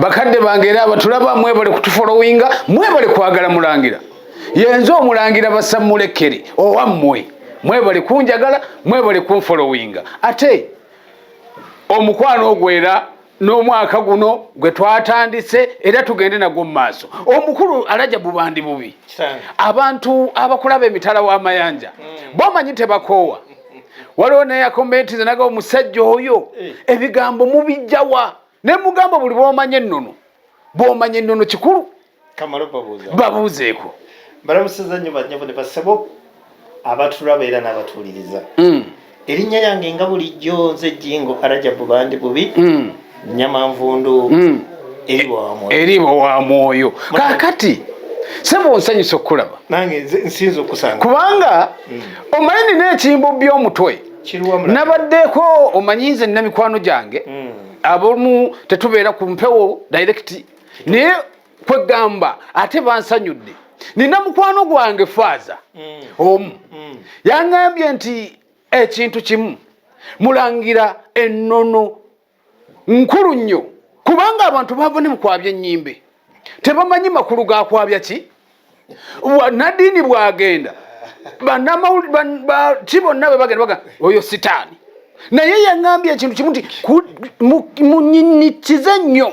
bakadde bange era abatulaba mwebale kutufolowinga mwebale kwagala mulangira yenze omulangira basammulekere owammwe mwebale kunjagala mwebale kunfolowinga ate omukwano ogwo era n'omwaka guno gwe twatandise era tugende nagwo mu maaso omukulu alaja bubandi bubi abantu abakulaba emitala w'amayanja mm. bomanyi tebakoowa waliwo nayakomentize naga omusajja oyo eh. ebigambo mubijjawa ne mugamba buli bwomanya ennono bwomanya ennono kikulu babuuzeeko balamusiza nnyo banyabo ne basabo abatulaba era n'abatuwuliriza hmm. erinnya lyange nga bulijjo nze jingo arajabu bandi bubi hmm. nyama nvundu hmm. eriba wa mwoyo kakati sebo nsanyusa okukulaba nange nsinza okusanga kubanga omanyi nina ekimbo by'omutwe nabaddeko omanyi nze nina mikwano gyange hmm. abomu tetubeera ku mpewo direct naye kwegamba ate bansanyudde nina mukwano gwange faaza hmm. omu hmm. yangambye nti ekintu kimu mulangira enono nkulu nnyo kubanga abantu bava ne mu kwabya ennyimbe tebamanyi makulu ga kwabya ki nadiini bwagenda ki bonna bwe bagenda baga oyo sitaani naye yaŋambye ekintu kimu nti munyinnyikize nnyo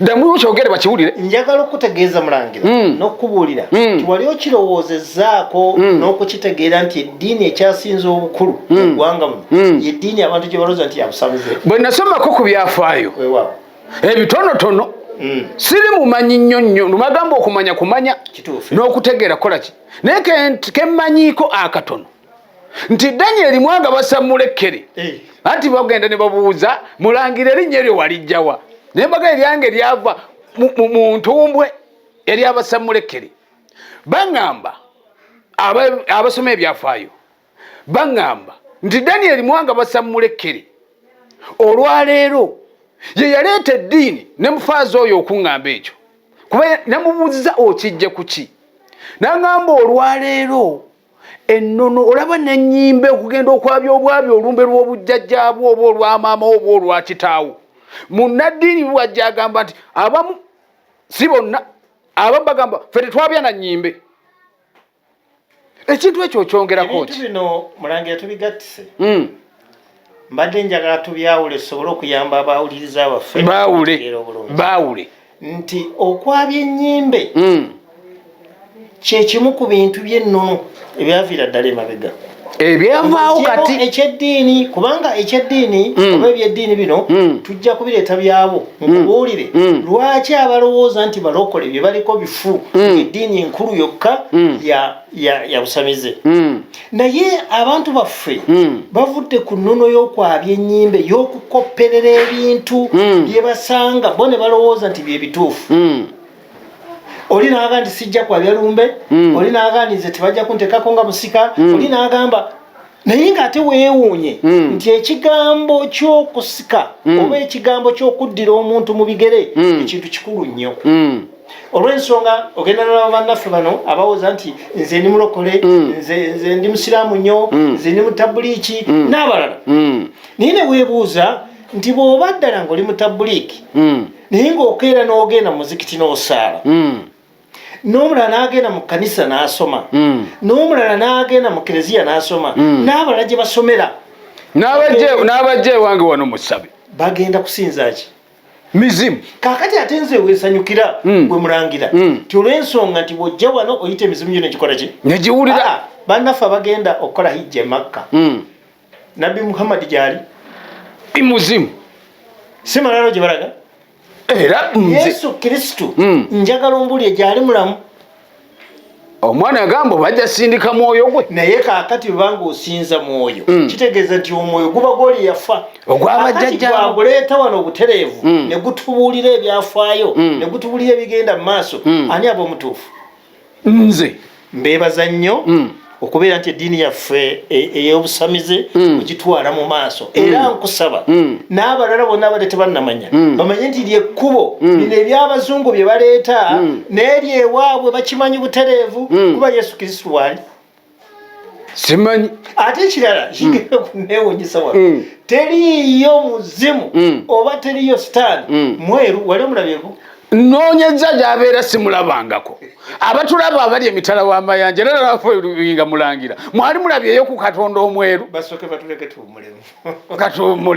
ddamu okyogere bakiwulire njagala okukutegeeza mulangira mm. n'okukubuulira mm. nti wali okirowoozezaako mm. n'okukitegeera nti eddiini ekyasinza obukulu mugwanga muno yeddiini abantu gye balooza nti yabusabuze bwe nasomako ku byafaayo ebitonotono siri mumanyi nnyo nnyo numagamba okumanya kumanya n'okutegeera kukola ki naye kemmanyiiko akatono nti danyeri mwanga basammula ekkere eh. anti bagenda ne babuuza mulangira erinnya eryo walijjawa naye mbaga eryange lyava mu ntumbwe eryabasammula ekkere baŋŋamba abasoma ebyafaayo baŋŋamba nti danyeri mwanga basammula ekkere olwaleero ye yaleeta eddiini ne mufaaza oyo okuŋŋamba ekyo kuba namubuuziza okijja ku ki naŋŋamba olwaleero ennono olaba nenyimba okugenda okwabya obwabya olumbe lw'obujjajjaabwo oba olwamaama oba olwakitaawo munnaddiini wajja agamba nti abamu si bonna abamu bagamba fe tetwabya na nyimbe ekintu ekyo okyongerako ki bino mulangira tubigattise hmm. mbadde njagala tubyawule tusobole okuyamba abawuliriza baffe baawule baawule nti okwabya ennyimbe hmm. kyekimu ku bintu by'ennono ebyaviira ddala emabega ebyavaawo kati ekyeddiini kubanga ekyeddiini hmm. oba ebyeddiini bino hmm. tujja kubireeta byabo nkubuulire lwaki abalowooza nti balokole bye baliko bifu eddiini enkulu yokka ya yabusamize hmm. naye abantu baffe hmm. bavudde ku nnono y'okwabya ennyimbe y'okukopperera ebintu hmm. bye basanga bo ne balowooza nti bye bituufu oli naaga nti sijja kwabya lumbe oli naaga nti nze tebajja kuntekako nga musika oli naagamba naye ng'ate weewuunye hmm. nti ekigambo ky'okusika hmm. oba ekigambo ky'okuddira omuntu mu bigere hmm. ekintu kikulu nnyo olw'ensonga ogenda nolaba bannaffe bano abawoza nti nze ndi mulokole nze ndi musiraamu nnyo nze ndi mutabuliiki n'abalala naye ne weebuuza nti bw'oba ddala ng'oli mutabuliiki naye ng'okeera n'ogenda muzikiti n'osaala n'omulala n'agenda mu kkanisa n'asoma hmm. n'omulala n'agenda mu kereziya n'asoma hmm. n'abalala gye basomera n'abajja ewange wano musabe bagenda kusinza ki mizimu kakati ate nze wesanyukira hmm. gwe mulangira ti olw'ensonga nti bw'ojja wano oyita emizimu gyo negikola ki negiwulira ah, bannaffe abagenda okukola hijja emakka nabbi muhammadi gyali imuzimu si malalo gye balaga era yesu kristo hmm. njagala ombulire gyali mulamu omwana yagamba bajja sindika mwoyo gwe naye kakati bwebanga osinza mwoyo mm. kitegeeza nti omwoyo guba gwoli yafa ogwabajjajjaguleeta wano obutereevu mm. negutubuulira ebyafaayo mm. negutubuulira ebigenda mu maaso mm. ani aba omutuufu nze mbebaza nnyo mm. okubeera nti eddiini yaffe e, ey'obusamize mm. ogitwala mu maaso mm. era nkusaba mm. n'abalala bonna abadde tebannamanya bamanye nti lyekkubo bino eby'abazungu bye baleeta n'eryo ewaabwe bakimanyi butereevu kuba yesu kristu waali simanyi ate ekirala hmm. kigenda okunewunyisa wa hmm. teriiyo muzimu hmm. oba teriiyo sitaani mweru wali omulabyeko nonyeza gyabeera simulabangako abatulaba abali emitala w'amayanja era nalafuinga mulangira mwali mulabyeyo ku katonda omweru katuwumule